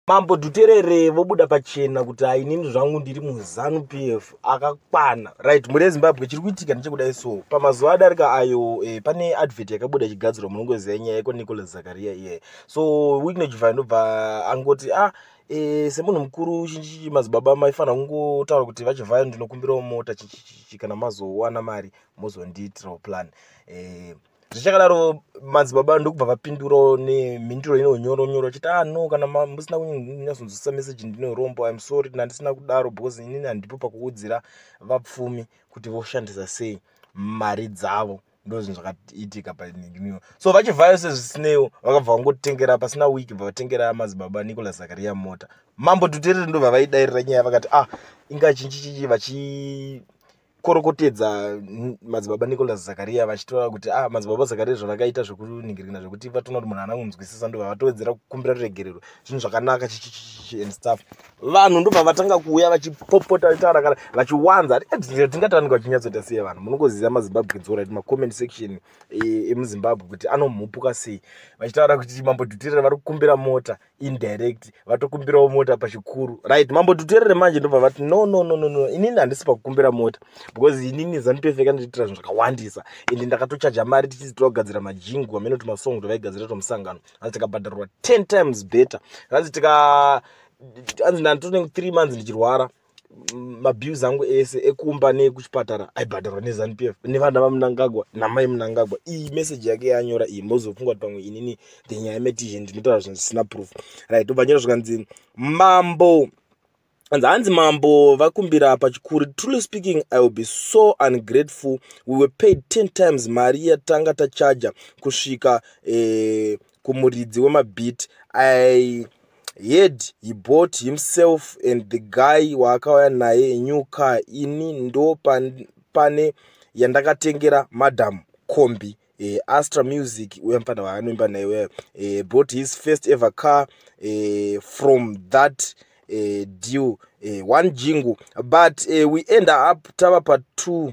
mambo dhuterere vobuda pachena kuti ainini zvangu ndiri muzanu p f akakwana right mhuri yezimbabwe chiri kuitika ndichekudai so pamazuva adarika ayo eh, pane advert yakabuda ichigadzirwa munongoziva nyaya yeko nicolas zakaria iye yeah. so wiknojva ndobva angoti ah e, semunhu mukuru chinchichi madzibaba maifanira kungotaura kuti vachivhayo ndinokumbirawo mota chinchichichi kana mazowana mari mozondiitirawo plan e, zvichakadaro madzibaba ndokubva vapindurawo nemhinduro ino nyoro nyoro vachiti ah no kana musina kunyatsonzwisisa meseji ndinorombo im sorry kana ndisina kudaro because inini handipo pakuudzira vapfumi kuti voshandisa sei mari dzavo ndozvinhu zvakaitika painiwo so vachivhayo sezvisineiwo vakabva vangotengera pasina wiki bva vatengera madzibaba nicolas zakaria mota mambo tuterere ndobva vaidairira nyaya vakati ah inga chinchichichi vachi korokotedza madzibaba nicolas zakaria vachitaura kuti ah madzibaba zakaria zvavakaita zvekuningirikina zvekuti vatoona kuti munhu anangunzwisisa ndo vavatowedzera kukumbira ruregerero zvinhu zvakanaka and stuff vanhu ndobva vatanga kuuya vachipopota vachitaura kana vachiwanza tingatanika vachinyatsoita sei vanhu munongoziva mazimbabwe dzora ti macomment section e, emuzimbabwe kuti anomhupuka sei vachitaura kuti mambo dhutirira vari kukumbira mota indirect vatokumbirawo mota pachikuru right mambo tuterere manje ndobva vati no no no no no inini handisi pakukumbira mota because inini zanipefeka ndichiitira zvinhu zvakawandisa ende ndakatochaja mari tichiti togadzira majingu amene kuti masong tovaigadzira tomusangano hanzi tikabhadharwa ten times better hanzi tika hanzi ndanditonenge three months ndichirwara mabills angu ese ekumba neekuchipatara aibhadharwa nezanup f nevana vamunangagwa namai munangagwa iyi meseji yake yanyora iyi mozofunga kuti pamwe inini ndenyaya yemetizhen ndinotaura zvinhu zvisina proof right obva nyora zvikanzi mambo hanzi hanzi mambo vakumbira pachikuru truly speaking i will be so ungrateful we were paid 10 times mari yatanga tachaja kusvika eh, kumuridzi wemabeat i heard he bought himself and the guy waakauya naye new car ini ndo pane yandakatengera madam combi eh, astra music uya mfana waanoimba naye uya eh, bought his first ever car eh, from that eh, deal eh, one jingu but eh, we end up tava pa two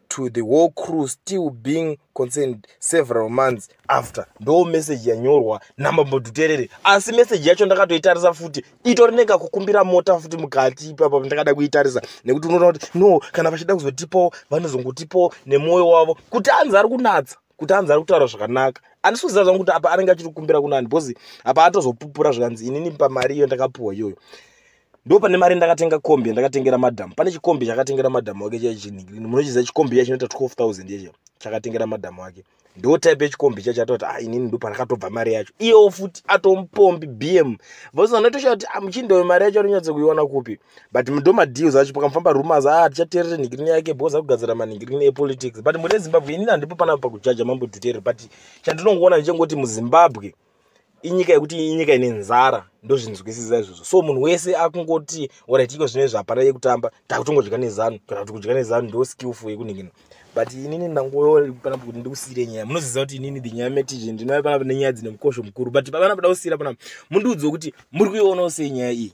to the whole crew still being concerned several months after ndo message yanyorwa namambo duterere asi message yacho ndakatoitarisa futi itori nekakukumbira mota futi mukati ipapa ndakada kuitarisa nekuti unoona kuti no kana vachida kuzotipawo vanozongotipawo nemwoyo wavo kuti anzi ari kunatsa kuti anzi ari kutaura zvakanaka andisi kuziva zvangu kuti apa anenge achiri kukumbira kunani because apa atozopupura zvikanzi inini pamari iyo ndakapiwa iyoyo ndo pane mari ndakatenga kombi yandakatengera madam pane chikombi chakatengera madam wake chai chinhikirini munochiziva chikombi iya chinoita 12000 yecho chakatengera madam wake ndo type yechikombi chacho atoti ah inini ndo pandakatobva mari yacho iyewo futi atomupombi bm vose anotoshaya kuti ah, muchindoyo mari yacho anonyatsa kuiona kupi but ndo madeals acho pakamufamba rumas ah tichaterere nhikirini yake bhoza kugadzira manhikirini epolitics but mune zimbabwe inini handipo panapa pakujaja mambo dutere but chandinongoona ndichengoti muzimbabwe inyika yekuti inyika ine nzara ndozvinzwisisa izvozvo so munhu wese akungoti orit iko zvine zvapara yekutamba takutongodya nezanu kana kuti kudya nezanu ndo skillful yekuningina but inini ndangopanapa kuti ndikusiyire nyaya munoziva kuti inini the nyaya metizve ndinaa panapa nenyaya dzine mukosho mukuru but pavana poda kusiyira panapa mundiudzi wekuti muri kuionawo sei nyaya iyi